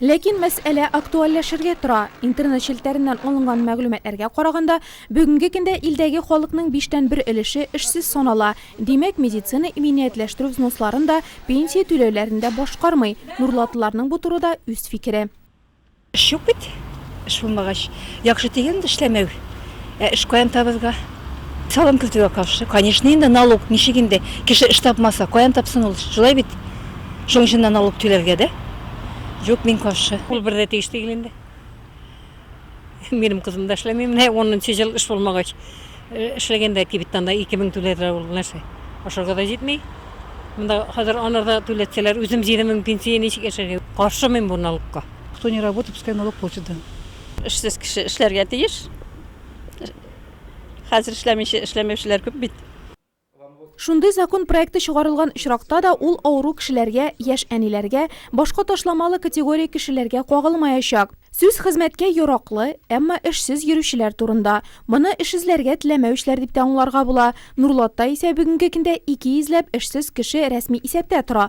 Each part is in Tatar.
Ләкин мәсьәлә актуальләшергә тора. Интернет челтәреннән алынган мәгълүматларга караганда, бүгенге көндә илдәге халыкның биштән бер өлеше эшсез санала. Димәк, медицина иминиятләштерү взносларын да, пенсия түләүләрен дә башкармый. Нурлатлыларның бу турыда үз фикере. Эш юк бит. Эш булмагач, яхшы дигән дә эшләмәү. Ә эш каян табызга? Салым кертүгә каршы. Конечно, инде налог ничек инде? Кеше эш тапмаса, каян тапсын ул? Шулай бит? Шуның өчен дә налог түләргә дә? Юк, мин каршы. Ул бер дә тиеш түгел инде. Минем кызым да эшләми, менә 10 нчы ел эш булмагач. Э, эшләгәндә кибеттан да 2000 түләделәр ул нәрсә? Ашарга да җитми. Монда хәзер анарда түләтсәләр, үзем 7000 пенсия ничек яшәргә? Каршы мин бу налогка. Кто не работает, пускай налог платит, да. Эшсез кеше эшләргә тиеш. Хәзер эшләмичә эшләмәүчеләр күп бит. Шундый закон проекты чыгарылган очракта да ул авыру кешеләргә, яшь әниләргә, башка ташламалы категория кешеләргә кагылмаячак. Сүз хезмәткә яраклы, әмма эшсез йөрүчеләр турында. Моны эш эзләргә теләмәүчеләр дип тә аңларга була. Нурлатта исә бүгенге көндә ике йөзләп эшсез кеше рәсми исәптә тора.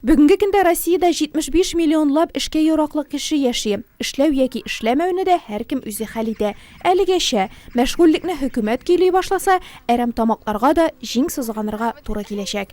Бүгенге көндә Россиядә 75 миллионлап эшкә яраклы кеше яши. Эшләү яки эшләмәүне дә һәркем үзе хәл итә. Әлегәчә. Мәшгульлекне хөкүмәт көйли башласа, әрәмтамакларга да җиң сызганырга туры киләчәк.